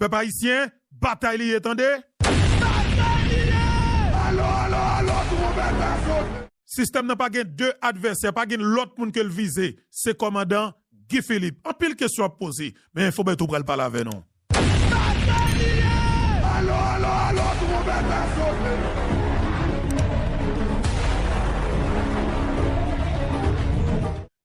Pèp ayisyen, batay li ye tande! Batay li ye! Alo, alo, alo, twonbèt la sote! Sistèm nan pa gen 2 advèsè, pa gen lòt moun ke l vize, se kòmandan Guy Philippe. Anpil kesyon ap poze, men Enfo Bertho pral pale avè nou. Batay li ye! Alo, alo, alo, twonbèt la sote!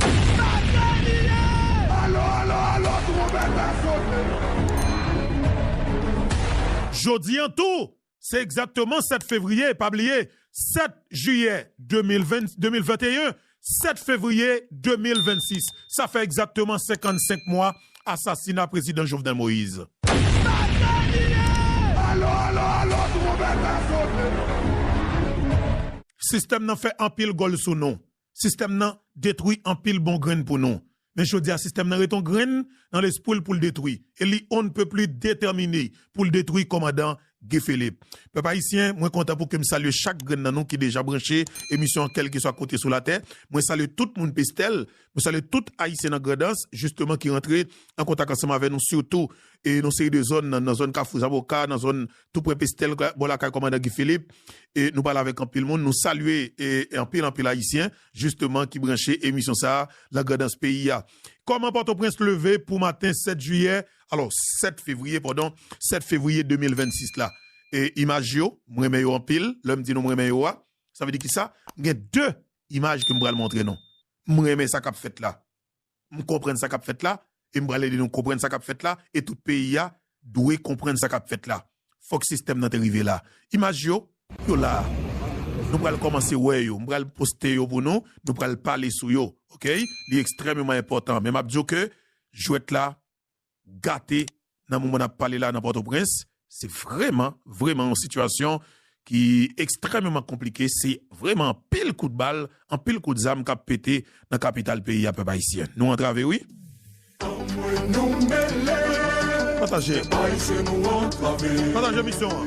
Sa se li ye! Alo alo alo twonbèt la sote! Jodi an tou, se egzakteman 7 fevriye, pa bliye, 7 jiyè 2021, 7 fevriye 2026. Sa fè egzakteman 55 mwa asasina Prezidan Jovenel Moïse. Sa se li ye! Alo alo alo twonbèt la sote! Sistèm nan fè anpil gòl sou nou. Sistèm nan detwi anpil bon grenn pou nou. Men jodi a sistèm nan ret on grenn nan lespwi l pou l detwi e li on ne peut plus detèmine pou l detwi kòmandan Guy Philippe. Pèp ayisyen, mwen kontan pou ke m salye chak grenn nan nou ki deja branche emisyon an kèlkeswa kote sou latè. Mwen salye tout moun Pestèl, mwen salye tout ayisyen nan Grandans jisteman ki rantre an kontak ansanm avè nou sitou e yon seri de zòn nan zòn Kafou Zaboka, nan zòn tou prè Pestèl bò lakay kòmandan Guy Philippe e nou pale avèk anpil moun. Nou salye anpil anpil ayisyen jisteman ki branche emisyon sa a lan Grandans peyi a. Kòman Pòtoprens leve pou maten 7 jiyè alò 7 fevriye padon 7 fevriye 2026 la. Imaj yo m renmen yo anpil lè m di nou m renmen yo a sa vle di kisa? M gen 2 imaj ke m pral montre nou. M renmen sa k ap fèt la. M konprann sa k ap fèt la e m pral ede nou konprann sa k ap fèt la e tout peyi a dwe konprann sa k ap fèt la. Fòk sistèm nan te rive la. Imaj yo, yo la a. Nou pral kòmanse wè yo. M pral poste yo pou nou. Nou pral pale sou yo. Ok? Li ekstrèmeman enpòtan. Men m ap di w ke jwèt la gate nan moman n ap pale la nan Pòtoprens. Se vrèman, vrèman yon sitiyasyon ki ekstrèmeman konplike. Se vrèman anpil kout bal, anpil kout zam k ap pete nan kapital peyi a, pèp ayisyen. Nou antrave wi. Pataje. Pataje emisyon an.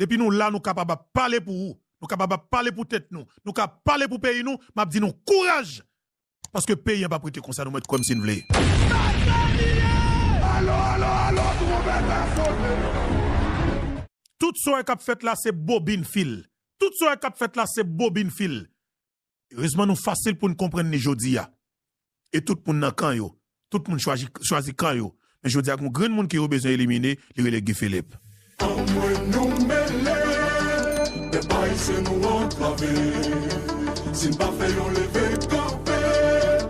Depi nou la nou kapab ap pale pou ou, nou kapab ap pale pou tèt nou, nou ka ap pale pou peyi nou, map di nou kouraj! Paske peyi an pap rete konsa nou mèt kwè m si n vle. Sa sa li ye! Alo alo alo tronpèt la soti! Tout sa w wè kap fèt la se bobin fil. Tout sa w wè kap fèt la se bobin fil. Rezman nou fasil pou n konprann li jodi a. E tout moun nan kan yo. Tout moun chwazi kan yo. Men jodi a gen yon grenn moun ke yo bezwen elimine, li rele Guy Philippe. Anmwey nou mele, men pa ese nou antrave, si n pa fè yon leve kanpe,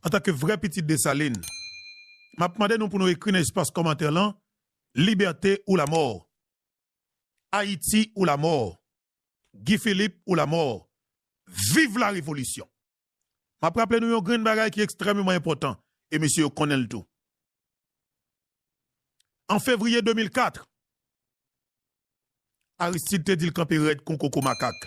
Antanke vrè pitit Desalin, m ap mande nou pou nou ekri nan espas kòmantè lan, Libète ou lamò! Ayiti ou lamò! Guy Philippe ou lamò! Viv la revolisyon! M ap raple nou yon grenn bagay ki ekstrèmeman enpòtan, e mesye yo konnen l tou. An fevriye 2004, Aristide te di l kanpe rèd kon koko makak.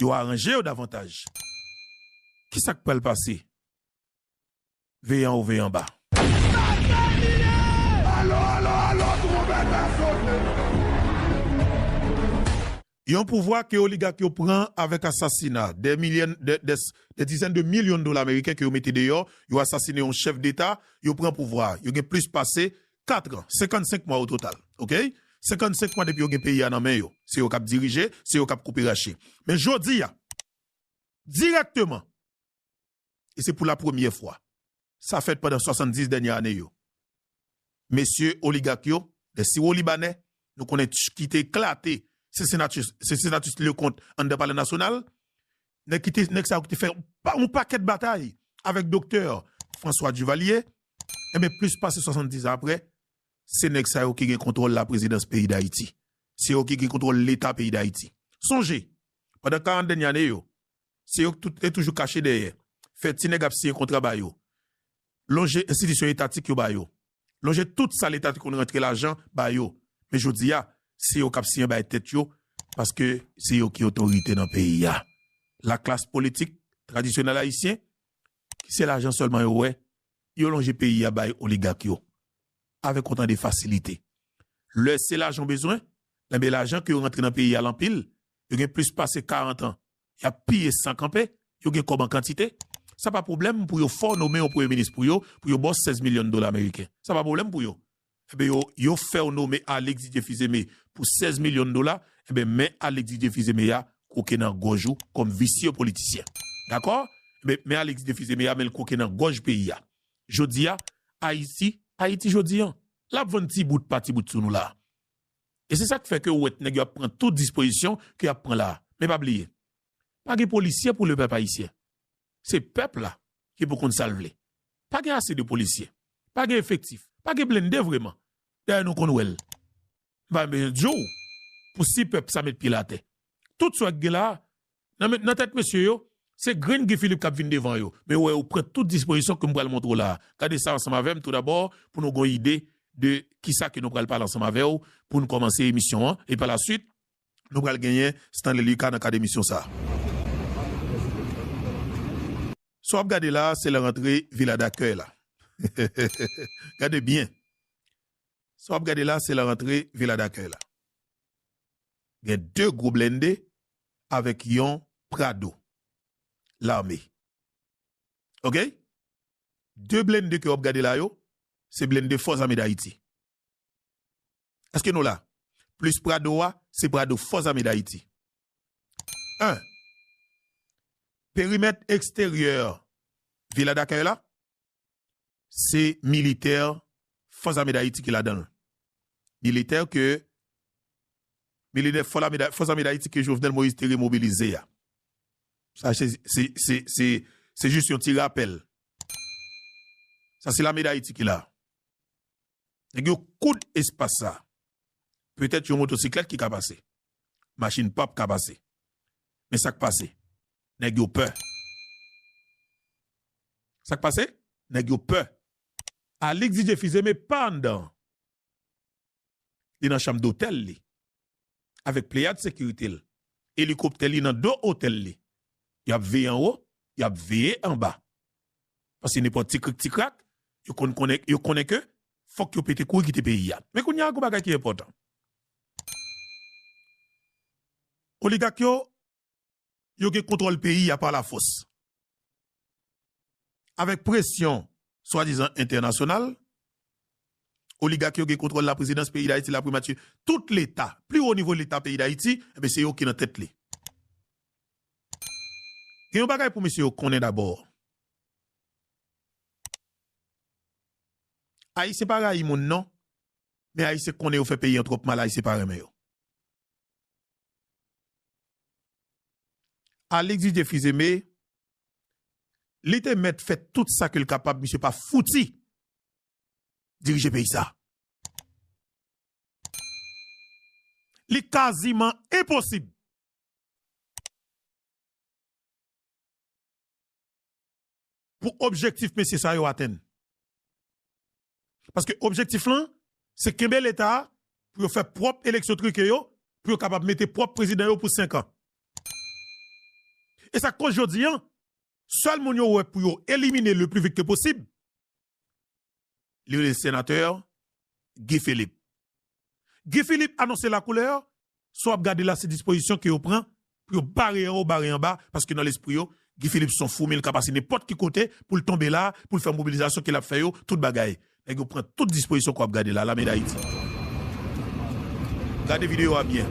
yo aranje yo davantaj. Ki sa k pral pase? Veye anwo veye anba. Yon pouvwa ke oligak yo pran avèk asasina dè milyen, dè dizèn de milyon dola meriken ke yo mete deyò, yo asasine yon chèf deta, yo pran pouvwa a. Yo gen plis pase 4 ans, 55 mwa o total, ok, 55 mwa depi yo gen peyi a nan men yo, se yo kap dirije, se yo kap koupe rache. Men jodi a, dirèkteman, e se pou la premyè fwa, sa fèt pandan 70 dènyè ane yo, mesye oligak yo, lè siwolibanè, nou konnen ki te eklate Cincinnatus Leconte anndan palè nasyonal, Nèg ki te, nèg sa yo ki te fè yon pakèt batay avèk Doktè François Duvalier, enben plis pase 70 an aprè, se nèg sa yo ki gen kontwòl laprezidans peyi Dayiti. Se yo ki gen kontwòl Leta peyi Dayiti. Sonje, pandan 40 dènye ane yo, se yo ki tout te toujou kache dèyè, fè ti nèg ap siyen kontra ba yo, lonje enstitisyon etatik yo ba yo. lonje tout sa leta te konn rantre lajan ba yo men jodi a se yo k ap siye bay tèt yo paske se yo ki otorite nan peyi a laklas politik tradisyonèl ayisyen ki se lajan sèlman yo wè yo lonje peyi a bay oligak yo avèk yon tan de fasilite lè se lajan yo bezwen enben lajan ki yo rantre nan peyi a l anpil yo gen plis pase karantan y ap piye san kanpe, yo gen kòb an kantite, sa pa pwoblèm pou yo fè w nome yon premye minis pou yo, pou yo ba w 16 milyon dola meriken. Sa pa pwoblèm pou yo. Enben yo, yo fè w nome Alix Didier Fils-Aimé pou 16 milyon dola, enben men Alix Didier Fils-Aimé a kwoke nan gòj ou kòm visye politisyen. Dakò? Enben men Alix Didier Fils-Aimé a men l kwoke nan gòj peyi a. Jodi a, Ayiti, Ayiti jodi an, l ap vann ti bout pa ti bout sou nou la a. E se sak fè ke ou wè nèg yo ap pran tout dispozisyon ke yap pran la. Men pa bliye, pa gen polisye pou le pèp ayisyen. Se pèp la ki pou konn sal vle. Pa gen ase de polisye. Pa gen efektif. Pa gen blende vreman. Dayè nou konn wèl. M pa bezwen diw pou si pèp sa met pye l atè. Tout sa ki gen la, nan tèt mesye yo, se grenn Guy Philippe kap vin devan yo, men ou wè yo pran tout dispozisyon kem pral montre w la a, gade sa ansanm avèm tou dabò pou nou gon ide de kisa ke nou pral pale ansanm avè w poun kòmanse emisyon an, e pa la swit nou pral genyen Stanley Lucas nan kad emisyon sa a. Sa wap gade la a se lè rantre Villa Dakèy la gade byen sa wap gade la a se lè rantre Villa Dakèy la gen 2 gwo blennde avèk yon prado lame ok 2 blende ke wap gade la yo se blende fòs ame dayiti eske nou la plis prado wa se prado fòs ame dayiti 1 perimèt eksteryè vila dakèy la Se militè Fòs Ame Dayiti ki ladan l. Militè ke Fòs Ame Dayiti ke Jovenel Moïse te remobilize a. Sa se jis yon ti rapèl. Sa se Lame Dayiti ki la. Nèg yo koud espas sa. Petèt yon motosiklèt ki ka pase. Machin pap ka pase. Men sa k pase. Nèg yo pè. Sak pase? Nèg yo pè. Alix di Jeffi Zeme pa anndan an. Li nan chanm dotèl li. Avèk pleyad sekirite l. Elikoptè li nan do otèl li. Y ap veye anwo, y ap veye anba. Pase nenpòt ti krik ti krak, yo konn konnen, yo konnen ke fòk yo pete kouri kite peyi a. Men kounye a gwo bagay ki enpòtan. Oligak yo yo gen kontwòl peyi a pa lafòs. Avèk presyon swadizan entènasyonal, oligak yo gen kontwòl laprezidans peyi Dayiti, laprimati, tout leta, pli wo nivo leta peyi Dayiti, enben se yo ki nan tèt li. Gen yon bagay pou mesye yo konnen dabò, Ayisyen pa rayi moun non, men Ayisyen konnen yo fè peyi an twòp mal, Ayisyen pa renmen yo. Alix Didier Fils Aimé, li te mèt fè tout sa ke l kapab, misye pa fouti dirije peyi sa a. Li kaziman enposib. pou objektif mesye sa yo atenn. Paske objektif lan, se kenbe leta a pou yo fè pwòp eleksyon trike yo, pou yo kapab mete pwòp prezidan yo pou senkan. E sa k koz jodi an, sèl moun yo wè pou yo elimine le pli vit ke posib, li rele Senatè Guy Philippe. Guy Philippe anonse lakoulè, sa w ap gade la se dispozisyon ke yo pran pou yo bare anwo, bare anba, paske nan lespri yo, Guy Philippe se yon foumi, li ka pase nenpòt ki kote pou l tonbe la, pou l fè mobilizasyon ke l ap fè yo, tout bagay. Nèg yo pran tout dispozisyon ke w ap gade la, Lame Dayiti. Gade videyo a byen.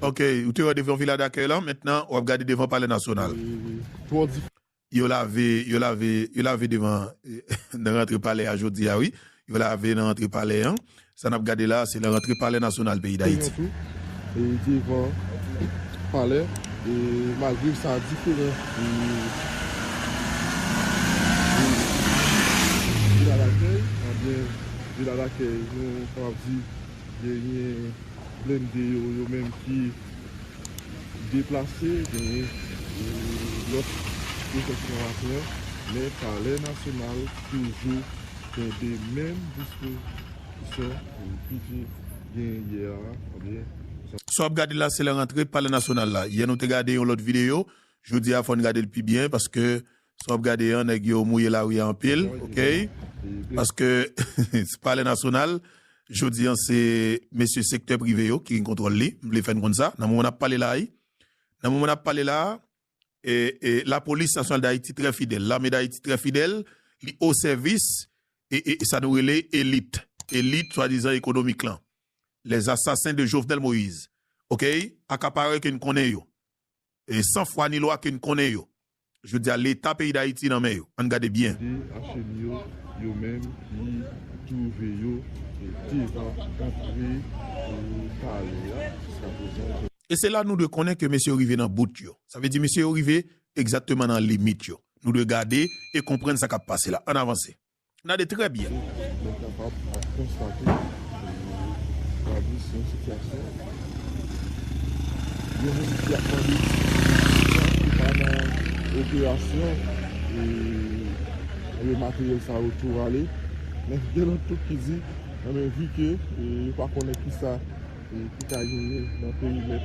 Ok ou te wè devan vila dakèy lan mentnan wap gade devan palè nasyonal yo lave yo lave yo lave devan nan rantre palè a jodi a wi yo lave nan rantre palè an sa nap gade la se nan rantre palè nasyonal peyi dayiti. Devan palè malgre sa diferan de vila dakèy ebyen vila dakèy nou kapab di Genyen blende yo yo menm ki deplase, genyen lòt pwofèsyon laprès, men palè nasyonal toujou kenbe menm dispozisyon ki te gen yè a oubyen. Sa wap gade la se lè rantre palè nasyonal la. Yè nou te gade yon lòt videyo, jodi a fò n gade l pi byen paske Sa wap gade an nèg yo mouye lari a anpil ok paske se palè nasyonal jodi an se mesye sektè prive yo ki gen kontwòl li m vle fè n konn sa nan moman nap pale la a nan moman nap pale la a lapolis nasyonal dayiti trè fidèl lame dayiti trè fidèl li o sèvis sa nou rele elit elit swadizan ekonomik lan lèzasasen de jovnèl moyiz ok akaparè ke n konnen yo e san fwa ni lwa ke n konnen yo. Jodi a leta peyi Dayiti nan men yo. Ann gade byen. De HM yo, yo menm ki twouve yo devan antre palè a jiskaprezan yo. E se la nou dwe konnen ke mesye yo rive nan bout yo. Sa vle di mesye yo rive egzatteman nan limit yo. Nou dwe gade e konprann sa k ap pase la. Ann avanse. N ade trè byen. Mwen kapab ap konstate Gladys se yon sitiyasyon yon moun ki ap mande ki pa nan operasyon e materyèl sa yo tou rale men gen lòt tou ki di anben vi ke yo pa konnen ki sa ki ka genyen nan perimèt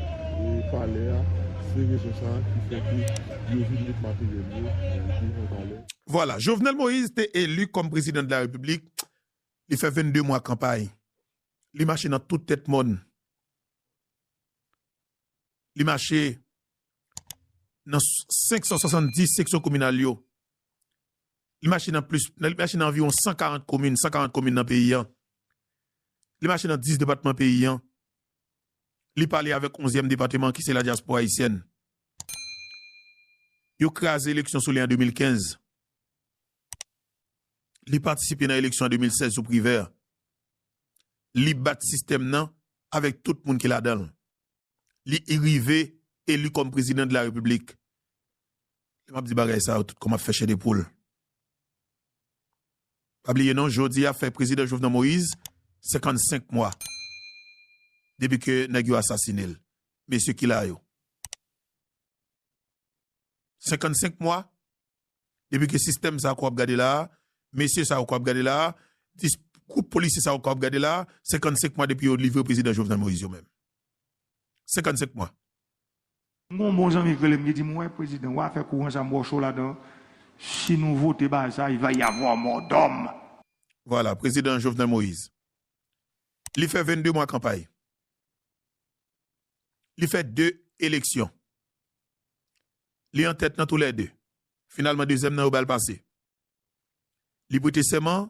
palè a se rezon sa ki fè ke yo vin met materyèl yo pi an valè. Vwala, Jovenel Moïse te eli kòm prezidan de la Repiblik, li fè 22 mwa kanpay, li mache nan tout tèt mòn, li mache nan 570 seksyon kominal yo, li mache nan plis, li mache nan anviwon 140 komin, 140 komin nan peyi an, li mache nan 10 depatman peyi an. li pale avèk onzyèm depateman ki se ladyaspora ayisyèn. Yo kraze eleksyon sou li an 2015. Li patisipe nan eleksyon an 2016 sou Privert. Li bat sistèm nan avèk tout moun ki ladan l. Li rive eli kòm prezidan de la repiblik. Lè m ap di bagay sa yo tout kò m ap fè chè de poul. Pa bliye non jodi a fè Prezidan Jovenel Moïse 55 mwa depi ke nèg yo asasine l. Mesye ki la yo? 55 mwa depi ke sistèm sa ke w ap gade la a, mesye sa yo ke w ap gade la a, gwoup polisye sa yo ke w ap gade la a, 55 mwa depi yo livre Prezidan Jovenel Moïse yo menm. 55 mwa. M gon bon zanmi ki rele m ki di m wè prezidan wa fè kouran sa m wè w cho ladan si nou vote bagay sa il va y avoir mort d'homme. Vwala prezidan Jovenel Moïse li fè 22 mwa kanpay li fè 2 eleksyon li an tèt nan tou lè 2 finalman dezyèm nan yo ba l pase li prete sèman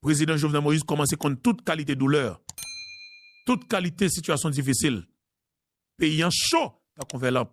Prezidan Jovenel Moïse kòmanse konn tout kalite doulè, tout kalite sitiyasyon difisil. Peyi an cho tankou vè lanp.